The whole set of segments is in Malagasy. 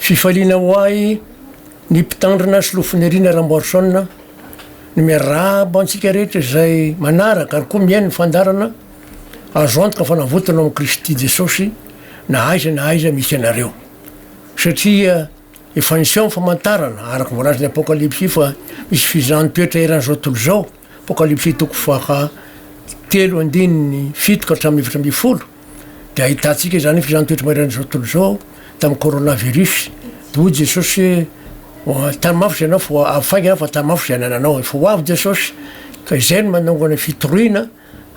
Fifaliana ho ahy ny Mpitandrina sy Lofoniriana Ramboarison ny miarahaba antsika rehetra izay manaraka ary koa mihaino ny fandaharana Azo antoka fa navotana ao amin'i Kristy Jesosy na aiza na aiza misy anareo satria efa niseho ny famantarana araka ny voalazan'ny Apokalypsy fa misy fizahan'ny toetra eran'izao tontolo izao, Apokalypsy toko faha telo andininy fito ka hatramin'ny efatra ambin'ny folo. Dia ahitantsika izany ny filantoetry mairan'izao tontolo izao tamin'ny coronavirus. Hoy Jesosy hoe tany mafy izay anao fa avy faingana fa tany mafy izay anananao. Efa ho avy Jesosy ka izay no manongana ny fitoriana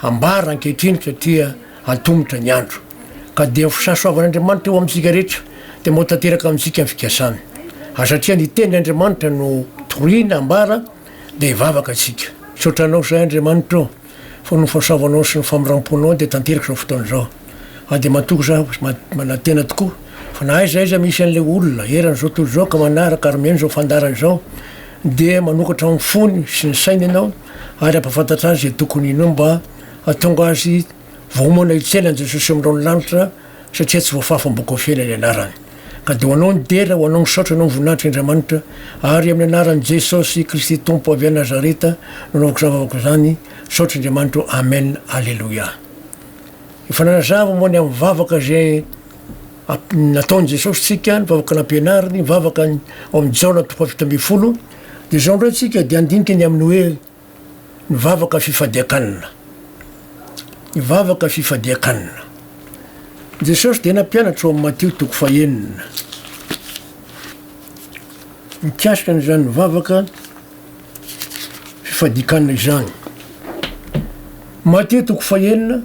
ambara ankehitriny satria antomotra ny andro. Ka dia ny fisasoavan'Andriamanitra eo amintsika rehetra dia mba ho tanteraka amintsika ny fikasany. Ary satria ny tenin' Andriamanitra no toriana ambara dia hivavaka isika. Misaotra anao izay Andriamanitra o. fa noho ny fahasoavanao sy ny famindram-ponao dia tanteraka izao fotoana izao. Ary dia matoky za manantena tokoa fa na aiza aiza misy an'ilay olona eran'izao tontolo izao ka manaraka ary mihaino izao fandaharana izao dia manokatra ny fony sy ny sainy ianao ary hampafantatra azy izay tokony inoa mba hatonga azy voaomana hitsena an'i Jesosy amin'irao ny lanitra satria tsy voafafa amin'ny boky ofela ny anarany. Ka dia ho Anao ny dera, ho Anao ny saotra, ho Anao ny voninahitra Indramanitra, ary amin'ny anaran'i Jesosy Kristy Tompo avy any Nazareta no anaovako izany vavaka izany, saotra Indriamanitra ô, Amen, Aleloia. Efa nanazava moa ny amin'ny vavaka izay nataon'i Jesosy tsika, ny vavaka nampianariny, ny vavaka ao amin'ny Jaona toko fahafito ambin'ny folo, dia izao indray tsika dia handinika ny amin'ny hoe, Ny vavaka fifadian-kanina. Ny vavaka fifadian-kanina. Jesosy dia nampianatra ao amin'ny Matio toko fahenina mikasika an'izany vavaka fifadian-kanina izany. Matio toko fahenina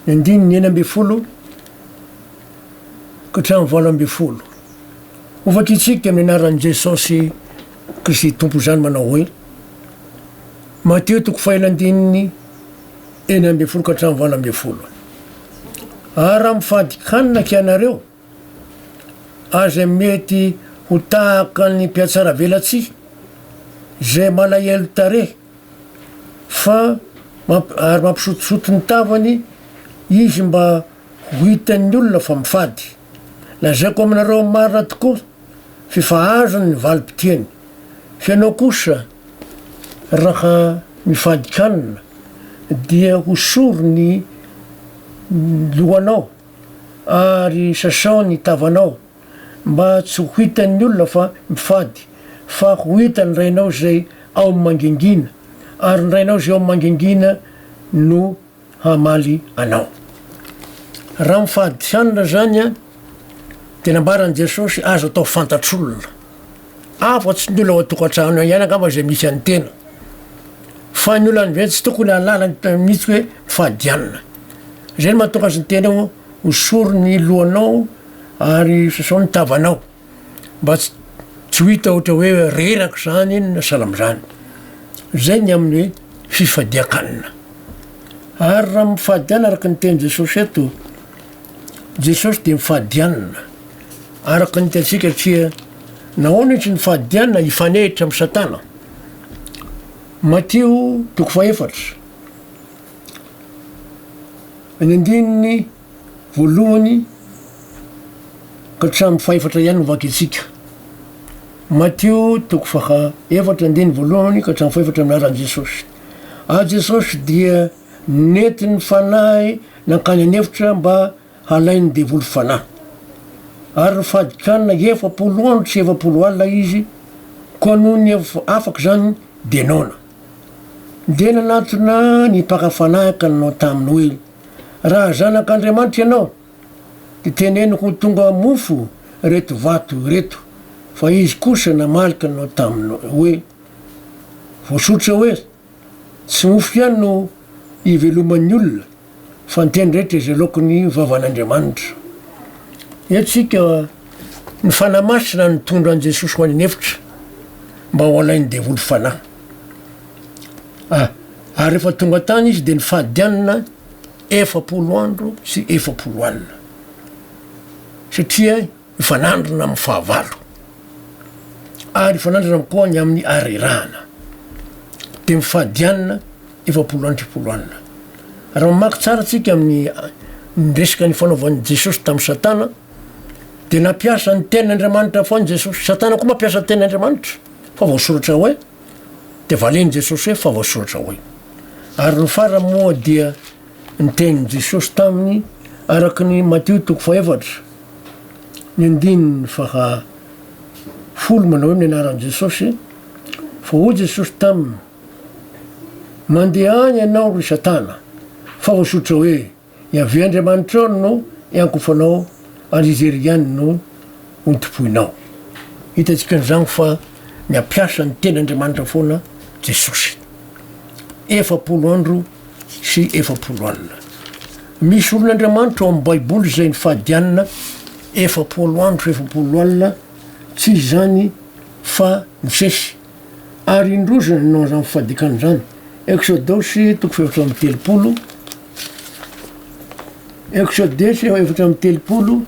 ny andininy enina ambin'ny folo ka hatramin'ny valo ambin'ny folo. Hovakintsika amin'ny anaran'i Jesosy Kristy Tompo izany manao hoe, Matio toko fahenina andininy enina ambin'ny folo ka hatramin'ny valo ambin'ny folo, Ary raha mifady hanina akia ianareo, ary izay mety ho tahaka ny mpihatsaravelatsihy, izay malahelo tarehy, fa ary mampisotisoty ny tavany izy mba ho hitan'ny olona fa mifady, lazaiko aminareo marina tokoa, f'efa azony ny valim-pitiany, f'ianao kosa raha mifadin-kanina dia hosoro ny lohanao ary sasao ny tavanao mba tsy ho hitan'ny olona fa mifady, fa ho hitan'ny Rainao izay ao amin'ny mangingina, ary ny Rainao izay ao amin'ny mangingina no hamaly anao. Raha amin'ny fahadisanana izany dia nambaran'i Jesosy azo atao fantatr'olona, afatsy ny olona ao an-tokantrano ihany angamba izay misy an'ny tena, fa ny olona indray tsy tokony hahalala ny tena mihitsy hoe fahadianana. Izay no mahatonga azy ny tenao ho sory ny lohanao ary sasao ny tavanao. mba tsy tsy ho hita ohatra hoe reraka izany iny na sahala amin'izany. Izay ny amin'ny hoe fifadian-kanina. Ary raha mifadian araka ny tenin'i Jesosy eto, Jesosy dia mifadianina araka ny hitantsika satria nahoana izy nifadianina hifanehitra amin'i Satana. Matio toko fahefatra, ny andininy voalohany ka hatramin'ny fahefatra ihany no vakintsika. Matio toko faha efatra andiny voalohany ka hatramin'ny fahefatra anaran'i Jesosy. Ary Jesosy dia nety ny fanahy nankany an'efitra mba halain'ny devoly fanahy. Ary ny fahadikanina efapolo andro sy efapolo alina izy, koa noho ny afaka izany dia noana. Dia nanatona ny mpaka fanahy ka nanao taminy hoe, Raha zanak'Andriamanitra ianao, dia teneno ho tonga mofo ireto vato ireto. Fa izy kosa namaly kanao taminy hoe, Voasoritra hoe, Tsy mofo ihany no iveloman'ny olona, fa ny teny rehetra izay loakin'ny vavan'Andriamanitra. Henontsika ny Fanahy Masina nitondra an'i Jesosy ho any an-efitra mba ho alain'ny devoly fanahy. A. Ary rehefa tonga tany izy dia nifady anona efapolo andro sy efapolo alina, satria hifanandrina amin'ny fahavalo, ary hifanandrina koa ny amin'ny arerahana, dia mifady anona efapolo andro sy efapolo alina. Raha mamaky tsara tsika amin'ny ny resaka nifanaovan'i Jesosy tamin'i Satana, dia nampiasa ny tenin'Andriamanitra foana Jesosy. Satana koa mampiasa ny tenin'Andriamanitra, fa voasoratra hoe. Dia valen'i Jesosy hoe, Fa voasoratra hoe. Ary ny farany moa dia ny tenin'i Jesosy taminy araka ny Matio toko fahefatra, ny andininy faha folo manao hoe ny anaran'i Jesosy, fa hoy Jesosy taminy, Mandeha any ianao ry Satana, fa voasoratra hoe. Yaveh Andriamanitrao no iankofanao ary Izy irery ihany no hontompoinao. Hitantsika an'izany fa nampiasa ny teny Andriamanitra foana Jesosy. Efapolo andro sy efapolo alina. Misy olon'Andriamanitra ao amin'ny Baiboly izay nifadianina efapolo andro sy efapolo alina, tsy izany fa nisesy. ary indroa izany no an'izany fifadikan izany. Eksodosy toko fahefatra amby telopolo, Eksodesy efatra amby telopolo,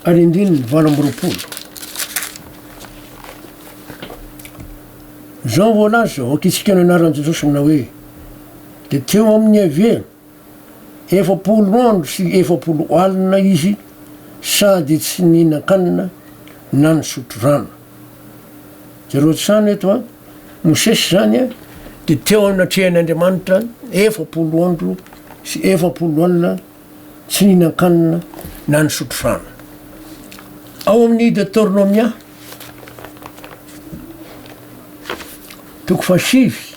ary indrindra ny valo amby roapolo. Izao voalaza, ho ankitsikiana anaran'i Jesosy manao hoe, dia teo amin'ny hever efapolo andro sy efapolo alina izy sady tsy nihinan-kanina na nisotro rano. Jereo hatrany eto an, Mosesy izany an, dia teo anatrehan'Andriamanitra efapolo andro sy efapolo alina tsy nihinan-kanina na nisotro rano. Ao amin'ny Detornomia, toko fahasivy,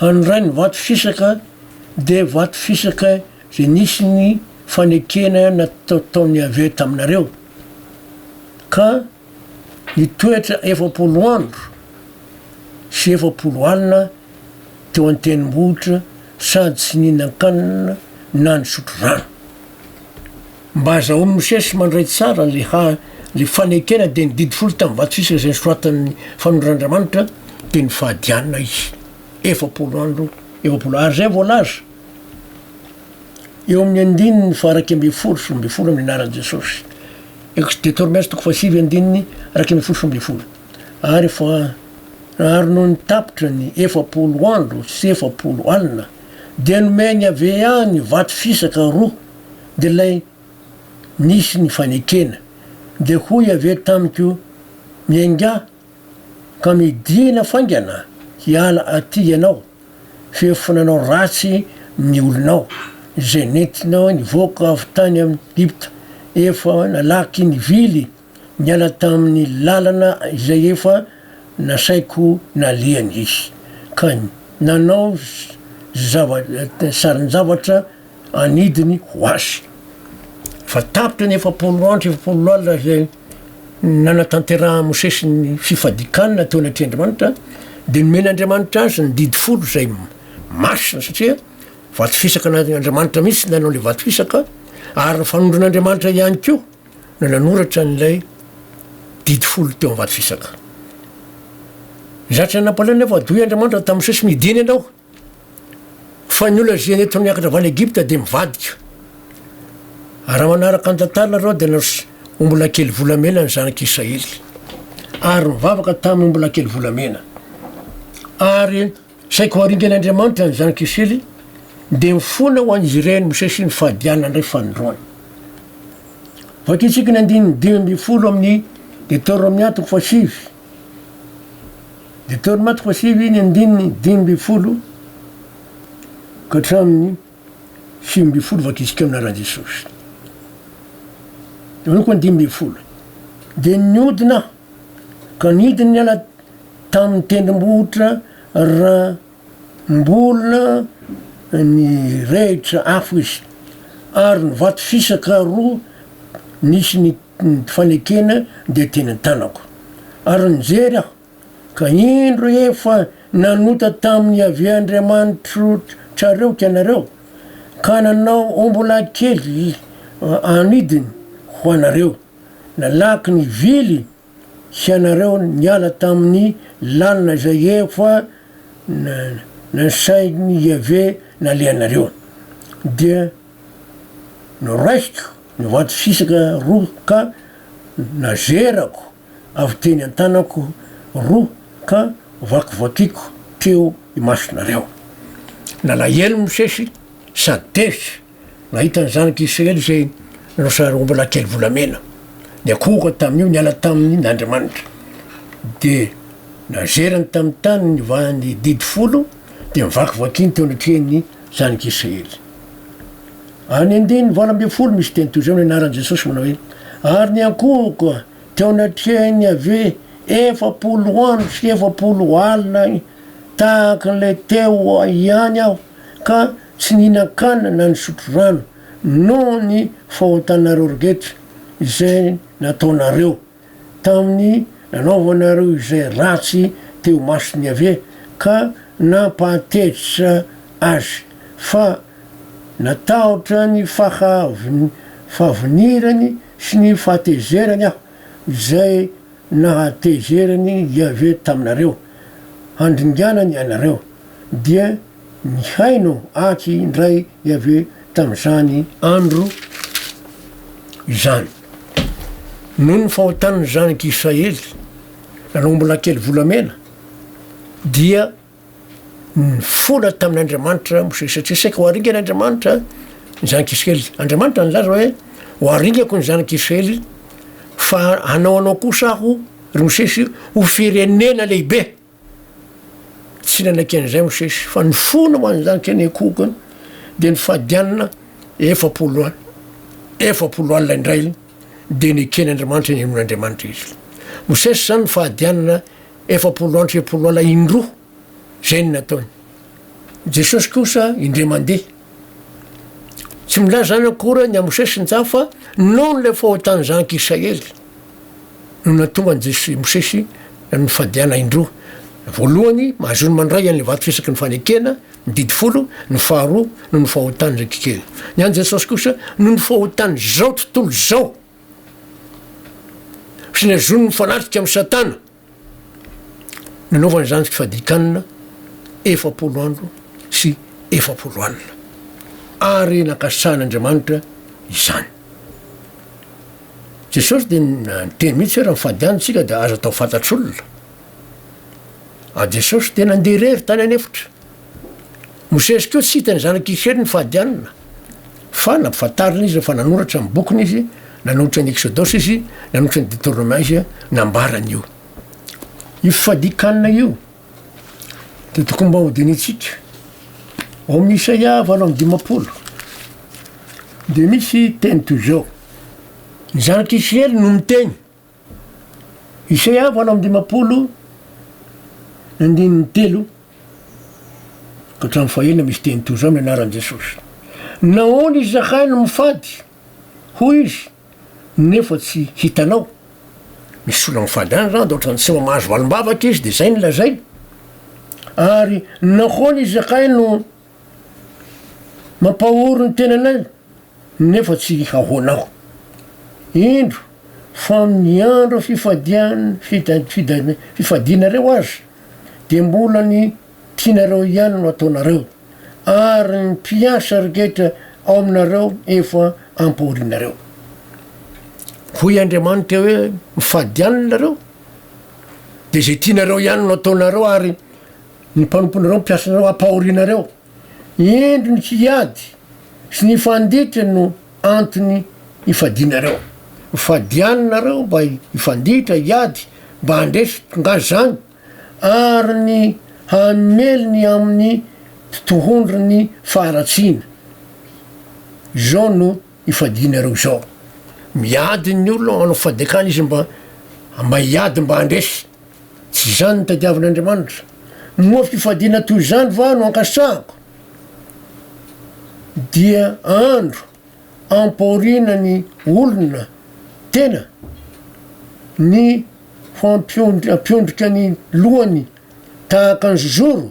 Handray ny vato fisaka dia vato fisaka izay nisy ny fanekena nataon'i Yaveh taminareo, ka nitoetra efapolo andro sy efapolo alina teo an-tendrombohitra sady tsy nihinan-kanina na nisotro rano. Mba azahoan'i Mosesy mandray tsara le ha le fanekena dia ny didy folo tamin'ny vato sisa izay nosoratan'ny fanondran'Andriamanitra dia ny fahadianina izy efapolo andro efapolo ary izay voalaza eo amin'ny andininy faha-iraika ambin'ny folo sy roa ambin'ny folo amin'ny anaran'i Jesosy ex Deuteronomy toko fahasivy andininy iraika ambin'ny folo sy roa ambin'ny folo ary fa ary noho ny tapitra ny efapolo andro sy efapolo alina dia nomeny avy any vato fisaka roa dia ilay nisy ny fanekena. Dia hoy avy eo tamiko, Miaingà, ka midìna faingana hiala atỳ ianao, f'efa nanao ratsy ny olonao, izay nentinao nivoaka avy tany amin'i Egypta, efa nalaky ny vily, Niala tamin'ny lalana izay efa nasaiko nalehany izy, ka nanao sarin-javatra anidiny ho azy. Fa tapitra ny efapolo andro sy efapolo alina izay nanatanterahan'i Mosesy ny fifadian-kanina teo anatrehan' Andriamanitra, dia nomen' Andriamanitra azy ny didy folo izay masina, satria vato fisaka an' Andriamanitra mihitsy nanao ilay vato fisaka, ary ny fanondron' Andriamanitra ihany koa. no nanoratra an'ilay Didy folo teo am-vato fisaka. Zatra nampalahelo nefa doy Andriamanitra tamin'ny sesiny i Diana ianao, fa ny olona izay nety niakatra avy any Egypta dia mivadika. Raha manaraka ny tantara nareo dia nanos ombilakely volamena ny zanak'i Israely, ary nivavaka tamin'ny ombilakely volamena, ary Saika ho aringan'Andriamanitra ny zanaka Isely, dia mifona ho an'izy ireny Mosesy ny fahadiana ndray fanindroany. Vakintsika ny andininy dimy ambin'ny folo amin'ny Deteronomia toko fahasivy. Deteronomia toko fahasivy ny andininy dimy ambin'ny folo ka hatramin'ny sivy ambin'ny folo vakintsika amin'ny anaran'i Jesosy. Eo koa ny dimy ambin'ny folo. Dia niodina Ka nidiny niala tamin'ny tendrombohitra ra mbola nirehitra afo izy, ary ny vato fisaka roa nisy ny fanekena dia teny an-tanako. Ary nijery aho, ka indro efa nanota tamin'i Iaveh Andriamanitrareo ianareo, ka nanao ombilahy kely anidiny ho anareo. nalaky ny vily sy anareo niala tamin'ny lalina izay efa nasain'i Iaveh nalehanareo. Dia noraisiko ny vato fisaka roa ka nazerako avy teny an-tanako roa ka vakivakiako teo imasonareo. Nalahelo Mosesy sady tezitra. Nahita ny zanak'i Israely izay nosaroam-bola kely volamena, niankohoka tamin'io niala taminy Andriamanitra. Dia nazerany tamin'ny tany nivahany didy folo, dia nivakivakiany teo anatrehan'ny zanak'i Israely. Any andininy valo ambin'ny folo misy teny toy izao no ianaran'i Jesosy manao hoe, Ary niankohoka teo anatrehan'i Yaveh efapolo andro sy efapolo alina tahaka ilay teo ihany aho, ka tsy nihinan-kanina na nisotro rano noho ny fahotanareo rehetra izay nataonareo tamin'ny nanaovanareo izay ratsy teo imason'i Yaveh ka nampahatezitra Azy, fa natahotra ny fahavinirany sy ny fahatezerany aho, izay nahatezeran'i Yaveh taminareo, handringanany anareo, dia. Nihaino atsy indray Iaveh tamin'izany andro izany. Noho ny fahotan'ny zanak'i Israely nanao ombilakely volamena, dia nifola tamin'Andriamanitra Mosesy, satria saika ho aringany Andriamanitra ny zanak'i Israely. Andriamanitra nilaza hoe, Ho aringako ny zanak'i Israely, fa hanao anao kosa aho, ry Mosesy, ho firenena lehibe. Tsy nanaiky an'izay Mosesy, fa nifona ho an'izany teny Ekoka any, dia nifady alina efapolo alina. Efapolo alina indray dia nekeny Andriamanitra ny hinoan'Andriamanitra izy. Mosesy izany nifady alina efapolo andro sy efapolo alina indroa, izay no nataony. Jesosy kosa indray mandeha. Tsy milaza izany akory ny Mosesy sy ny Jah fa noho ilay fahotan'ny zanak'i Israely no nahatonga an'i Jesosy i Mosesy nanao ny fadiana indroa. Voalohany, mahazoany mandray an'ilay vato fisaky ny fanekena, ny didy folo, ny faharoa noho ny fahotan'ny rakikely. Ny an'i Jesosy kosa noho ny fahotan'izao tontolo izao sy ny azony mifanatrika amin'i Satana. Nanaovana izany tsy fadikanina efapolo andro sy efapolo alina, ary nankasitrahan'Andriamanitra izany. Jesosy dia niteny mihitsy hoe raha mifady any tsika dia aza atao fantatr'olona. Ary Jesosy dia nandeha irery tany an'efitra. Mosesy koa tsy hitan'ny zanak' Israely ny fahadianana, fa nampifantarina izy fa nanoratra ny bokiny izy, nanolotra ny Eksodosa izy, nanolotra ny Detornoma izy, nambarany io. Io fifadian-kanina io dia tokony mba hodinihintsika. Ao amin'ny Isaia valo amby dimampolo dia misy teny toy izao, Ny zanak' Israely no miteny, Isaiah valo amby dimampolo andininy telo ka hatramin'ny fahenina misy teny toy izao amin'ny anaran'i Jesosy, Nahoana izahay no mifady, hoy izy, nefa tsy hitanao? Misy olona mifady any izany dia ohatran'ny tsy mba mahazo valim-bavaka izy dia izay no lazainy. Ary nahoana izahay no Mampahory ny tenanay nefa tsy ahoana aho. Indro fa amin'ny andro fifadian'ny fifadianareo aza dia mbola ny tianareo ihany no ataonareo ary ny mpiasa rehetra ao aminareo efa ampahorianareo. Hoy Andriamanitra hoe, Mifadiana nareo dia izay tianareo ihany no ataonareo ary Ny mpanomponareo mpiasa anareo hampahorinareo. Indro ny hiady sy ny fanditra no antony ifadianareo. Fadiany nareo mba hifanditra, hiady, mba handresy tonga zany, ary ny hamely ny amin'ny totohondry ny faharatsiana. Izao no ifadianareo izao. Miady ny olona manao fadikana izy mba mba hiady mba handresy. Tsy izany no tadiavin'Andriamanitra. Moa fifadiana toy izany va no ankasitrahako? Dia andro ampahoriana ny olona tena, ny ho ampiondrika ny lohany tahaka ny zozoro?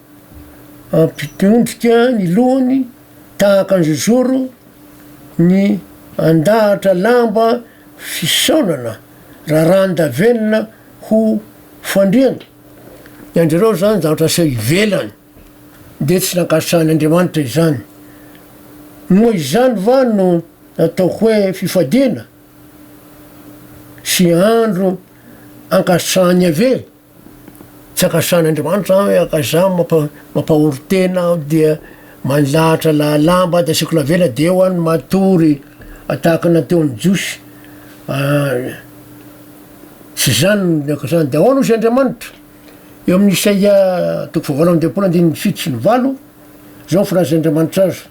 Ampiondrika ny lohany tahaka ny zozoro ny andahatra lamba fisaonana raràndavenona ho fandriana. Ny an-drireo izany zavatra aseho ivelany dia tsy nankasitrahan'Andriamanitra izany. Moa izany va no nataoko hoe fifadiana sy andro ankasitrahan'i Yaveh? Tsy akasan'Andriamanitra aho hoe ka izaho mampahory tena aho dia manilahatra lahalamba dia asiako lavela dia eo aho no matory tahaka ny nataon'ny Jiosy tsy izany ny akasan'ny dia ahoana hozy Andriamanitra eo amin'ny Isaia toko fahavalo amby dimampolo andininy fito sy ny valo izao ny filaza Andriamanitra azy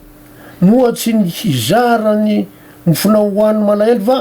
moa tsy ny hizara ny mofonao ho an'ny malahelo va?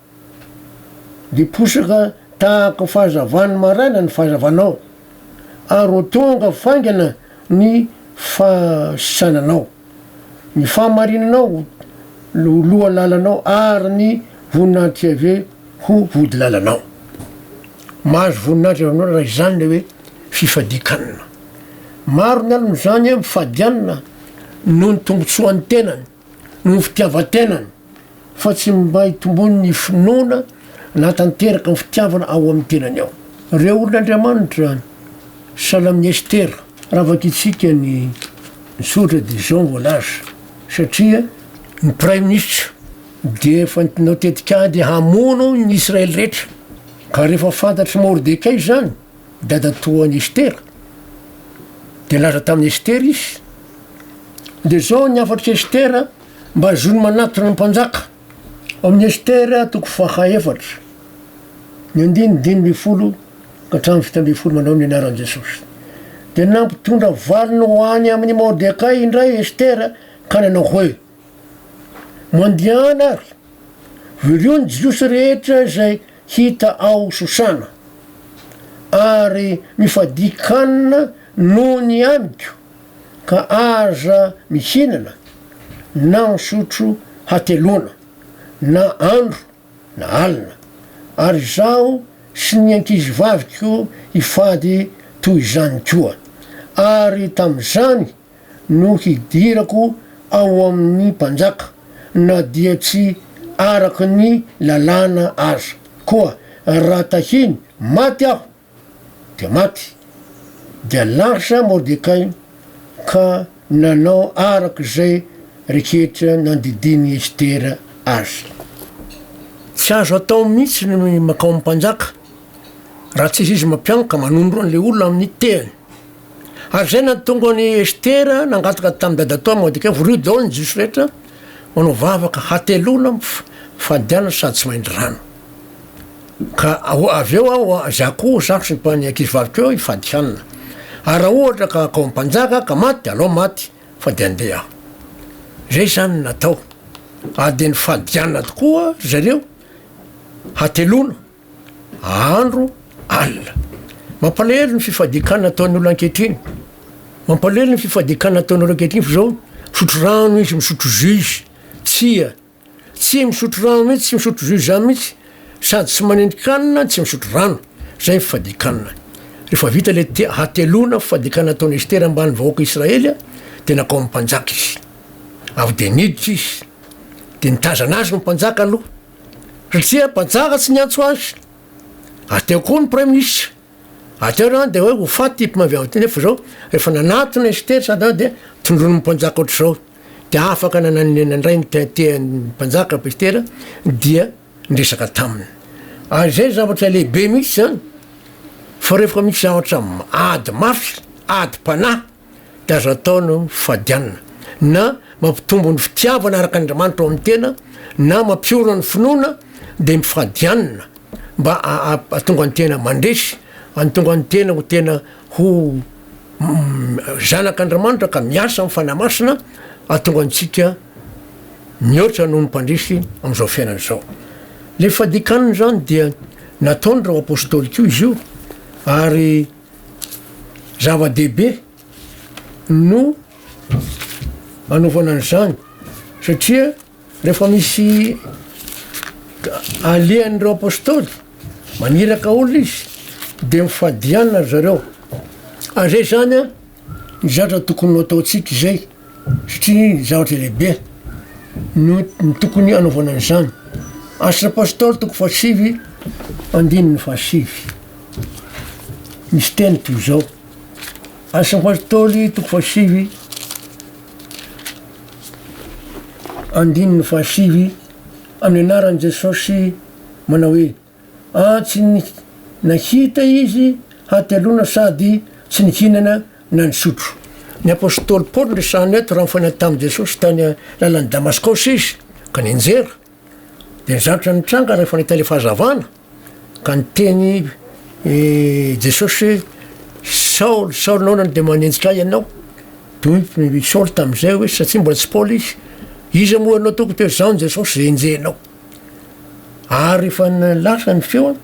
Dia posaka tahaka fahazavan'ny maraina ny fahazavanao, ary ho tonga faingana ny fahasananao. Ny fahamarinanao ho lohalalanao, ary ny voninahitry Iaveh ho vodilalanao. Mahazo voninahitra avy aminao raha izany ilay hoe fifadian-kanina. Maro ny alony izany mifadianina noho ny tombontsoan'ny tenany. noho ny fitiavan-tenany fa tsy mba hitomboany ny finoana nahatanteraka ny fitiavana ao amin'ny tenany ao. Ireo olon' Andriamanitra, Salamin'i Estera. Raha vakintsika ny soratra dia izao no voalaza, Satria ny praiminisitra dia efa nitinao tetikady hamono ny Israely rehetra, ka rehefa fantatr'i Mordekay izany, Dadatoa an'i Estera. Dia nilaza tamin'i Estera izy, Dia izao ny hafatr'i Estera mba azony manatona ny mpanjaka. Ao amin'ny Estera toko faha efatra, ny andininy dimy ambin'ny folo ka hatramin'ny fito ambin'ny folo manao ny anaran'i Jesosy. Dia nampitondra valiny ho any amin'i Mordekay indray Estera ka nanao hoe, Mandiana ary, vorio ny Jiosy rehetra izay hita ao Sosana, ary mifadia kanina noho ny amiko, ka aza mihinana na misotro hateloana, na andro na alina, ary izaho sy ny ankizivaviko hifady toy izany koa. Ary tamin'izany no hidirako ao amin'ny mpanjaka, na dia tsy araka ny lalàna aza. Koa raha tahiny maty aho, dia maty. Dia lasa Mordekay ka nanao araka izay rehetra nandidian'i Estera azy. Tsy azo atao mihitsy ny mankao amin'ny mpanjaka, raha tsy izy mampianaka manondro an'ilay olona amin'ny tehany. Ary izay nahatonga an' i Estera nangataka tamin'i Dadatoa Mordekay ho rio daholo ny Jiosy rehetra manao vavaka hateloana fadiana sady tsy maindry rano. Ka avy eo aho izay akoho izaho sy ny ankizivaviko eo hifady hanina. Ary raha ohatra ka akoho mpanjaka ka maty dia alao maty fa dia andeha aho. Izay izany no natao. Ary dia nifady hanina tokoa ry zareo hateloana. andro alina. Mampalahelo ny fifadikan ataon'ny olona ankehitriny. Mampalahelo ny fifadikan ataon'ny olona ankehitriny fa zao misotro rano izy, misotro jus. Tsia. Tsy misotro rano mihitsy, tsy misotro jus zany mihitsy. Sady tsy manendrika hanina, tsy misotro rano. Zay ny fifadikan. Rehefa vita le te- hateloana fifadikan nataon'i Estera ambany vahoaka Israely dia nakao amin'ny mpanjaka izy. Avy dia niditra izy. Dia nitazana azy ny mpanjaka aloha. Satria mpanjaka tsy niantso azy. Ary teo koa ny praiminisitra. Ary teo izany dia hoe ho faty ity mpamavy ao ity nefa izao rehefa nanatona izy tery sady izany dia tondroin'ny mpanjaka ohatr'izao. Dia afaka nananena indray ny tehantehan'ny mpanjaka Petera dia niresaka taminy. Ary izay zavatra lehibe mihitsy izany fa rehefa misy zavatra ady mafy, adim-panahy, dia azo atao ny fifadianana na mampitombo ny fitiavana araka an'Andriamanitra ao amin'ny tena na mampiorina ny finoana dia mifadianana mba ahatonga ny tena mandresy antonga ny tena ho tena ho zanak'Andriamanitra ka miasa amin'ny fanahy masina atonga antsika mihoatra noho ny mpandresy amin'izao fiainana izao le fadikanana izany dia nataony ireo apôstôly koa izy io ary Zava-dehibe no anaovana an'izany satria rehefa misy alehan'ireo apôstôly, maniraka olona izy dia mifadiana ry zareo ary zay zany ny zavatra tokony ho ataontsika izay. satria zavatra lehibe no tokony hanaovana an'izany. Asa Pastoly toko fahasivy andininy fahasivy misy teny toy izao. Asa Pastoly toko fahasivy andininy fahasivy amin'ny anaran'i Jesosy manao hoe Ah tsy nahita izy hateloana sady tsy nihinana na nisotro. Ny apostoly Paoly resahina eto raha nifanena tamin'i Jesosy tany lalan'i Damaskaosy izy ka nianjera dia ny zavatra nitranga rehefa nahita ilay fahazavana ka niteny i Jesosy hoe Saoly Saoly nahoana no dia manenjika ahy ianao? Dia hoy i Saoly tamin'izay hoe satria mbola tsy Paoly izy, iza moa ianao tompoko? Dia hoe izaho Jesosy izay enjehinao. ary rehefa lasa ny feo an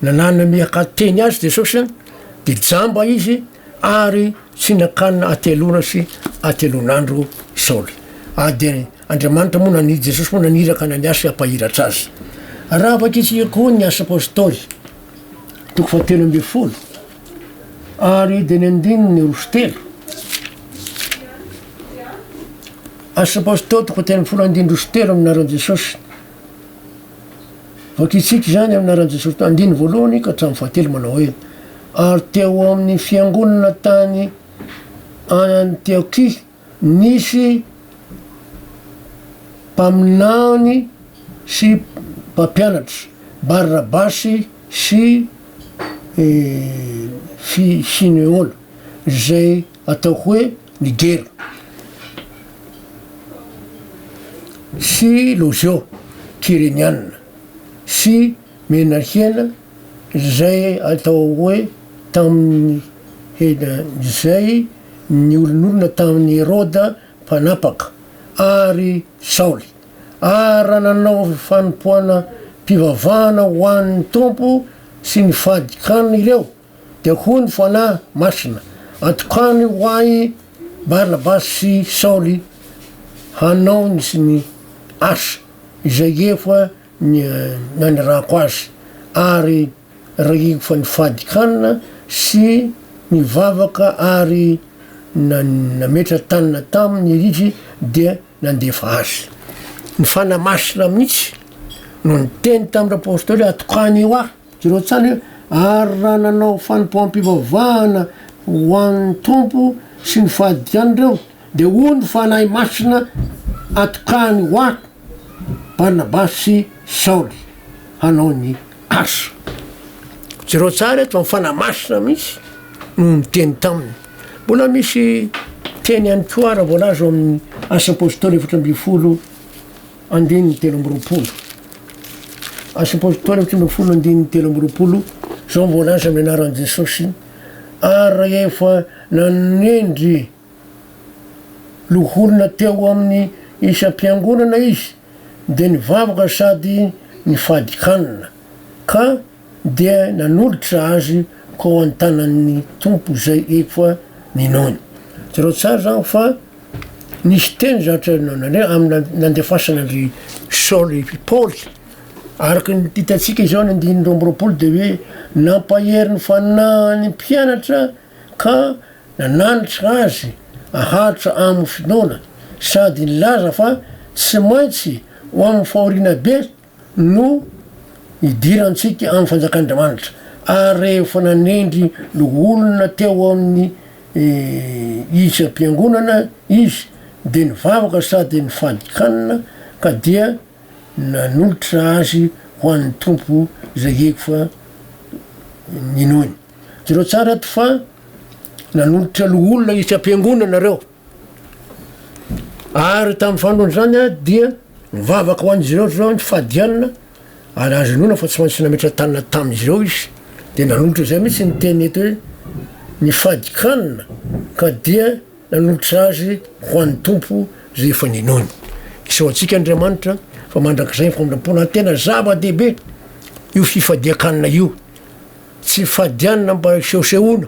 nanana miaka teny azy jesosy an de jamba izy ary tsy nakana ateloana sy atelonandro saoly ah de andriamanitra moa nani jesosy moa naniraka na ny asy ampahiratra azy raha avake isika koa ny asa apostoly toko fatelo ambe folo ary de ny andininy rosy telo I suppose teo toko telo amby folo andindro osy telo amin'ny anaran'i Jesosy. Voakitsika izany amin'ny anaran'i Jesosy teo andininy voalohany ka hatramin'ny fahatelo manao hoe, Ary teo amin'ny fiangonana tany Antiokia nisy mpaminany sy mpampianatra, Barnabasy sy Simeona, izay atao hoe, Niger, sy Lozio, Kyreniana, sy Menahiana, izay atao hoe tamin'ny hena, izay niolonolona tamin'i Heroda Mpanapaka, ary Saoly, ary raha nanao fanompoana-pivavahana ho an'ny Tompo sy ny fadikany ireo, Dia hoy ny Fanahy Masina, Atokany ho ahy Barnabasy sy Saoly hanao ny asa izay efa nanirahako azy, ary rahiko fa ny fahadikanana sy ny vavaka ary nametra tanana taminy iritsy dia nandefa azy. Ny Fanahy Masina mihitsy no niteny tamin'ny Apostoly hoe atokany ho ahy. Jonatsany hoe, Ary raha nanao fanompoam-pivavahana ho an' ny Tompo sy ny fahadiany ireo, dia hoy ny Fanahy Masina, Atokany ho Ahy Barnabasy sy Saoly hanao ny asa. Jereo tsara eto fa ny Fanahy Masina mihitsy no niteny taminy. Mbola misy teny ihany koa ara voalaza ao amin'ny Asa Apôstôly efatra ambin'ny folo. Andininy telo amby roapolo. Asa Apôstôly efatra ambin'ny folo andininy telo amby roapolo, izao no voalaza amin'ny anaran'i Jesôsy, Ary rehefa nanendry loholona teo amin'ny isam-piangonana Izy, dia nivavaka sady nifadin-kanina, ka Dia nanolotra azy ko an-tanan'ny Tompo zay efa ninoany. Jereo tsara zany fa nisy teny zany tsarinao nandre amin'ny nandefasana an-dry Saoly i Paoly. Araka ny hitantsika izao ny andininy roa amby roapolo dia hoe nampahery ny fanahiny mpianatra ka nananatra azy haharitra amin'ny finoana sady nilaza fa tsy maintsy ho amin'ny fahoriana be no nidirantsika amin'ny fanjakan'Andriamanitra, ary rehefa nanendry loholona teo amin'ny isam-piangonana izy, dia nivavaka sady nifadin-kanina, ka dia nanolotra azy ho an'ny Tompo izay efa ninoany. Jereo tsara eto fa nanolotra loholona isam-piangonana ireo. Ary tamin'ny fandroana izany dia nivavaka ho an'izy ireo Jehovah ny fahadianana, ary azo inoana fa tsy maintsy nametra-tanana tamin'izy ireo izy. Dia nanolotra izay mihitsy ny teny eto hoe ny fadin-kanina, ka dia nanolotra azy ho an'ny Tompo izay efa ninoany. Asao antsika Andriamanitra fa mandrakizay ny famindram-pona. Tena zava-dehibe io fifadian-kanina io, tsy fifadianana mba hisehosehoana.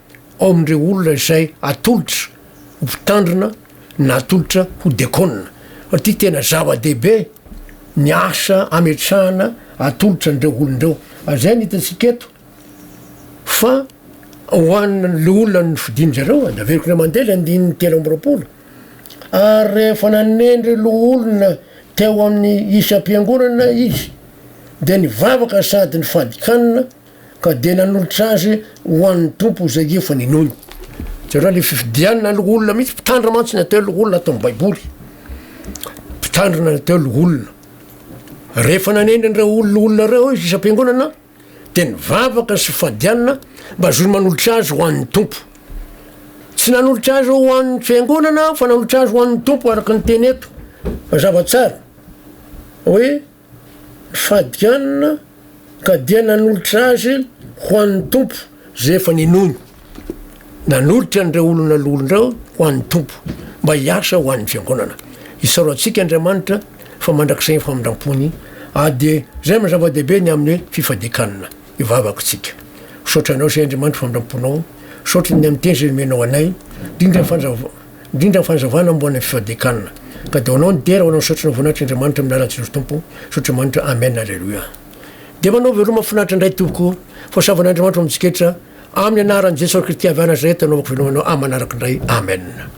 ao amin'ireo olona izay atolotra ho mpitandrina na atolotra ho dekona. Satria tena zava-dehibe ny asa ametrahana atolotra an'ireo olona ireo. Ary zay ny hitantsika eto fa ho an'le olona nofidin-dry zareo, de averiko indray mandeha le andininy telo amby roapolo, ary rehefa nanendry loholona teo amin'ny isam-piangonana izy de nivavaka sady nifadika hanina, ka dia nanolotra azy ho an'ny Tompo izay efa ninoany. Jereo ilay fifidianana loholona mihitsy, mpitandrina mantsy ny atao hoe loholona ato amin'ny Baiboly. Mpitandrina ny atao hoe loholona. Rehefa nanendry an'ireo olo- loholona ireo izy isam-piangonana, dia nivavaka sy fadianina mba azony manolotra azy ho an'ny Tompo. Tsy nanolotra azy ho an'ny fiangonana aho fa nanolotra azy ho an'ny Tompo araka ny teny eto. Mazava tsara hoe Fadianina ka dia nanolotra azy ho an'ny Tompo izay efa ninoany. Nanolotra an'ireo olona lolo ireo ho an'ny Tompo mba hiasa ho an'ny Fiangonana. Isaoro antsika Andriamanitra fa mandrakizay ny famindram-pony ary dia izay no zava-dehibe ny amin'ny hoe fifadian-kanina ivavako isika. Misaotra Anao izay Andriamanitra famindram-ponao, misaotra ny amin'ny teny izay nomenao anay, indrindra ny Indrindra ny fanazavana momba ny fifadian-kanina. Ka dia ho anao ny dera, ho anao ny saotra ny voninahitra Andriamanitra amin'ny alalan'i Jesosy Tompo saotra Andriamanitra Amen Aleloia Dia ho anao veloma finaritra indray tompoko Fosavan'Andriamanitra ho amintsika rehetra Amin'ny anaran'i Jesosy Kristy avy any Nazareta anaovako veloma anao amanaraka indray Amen.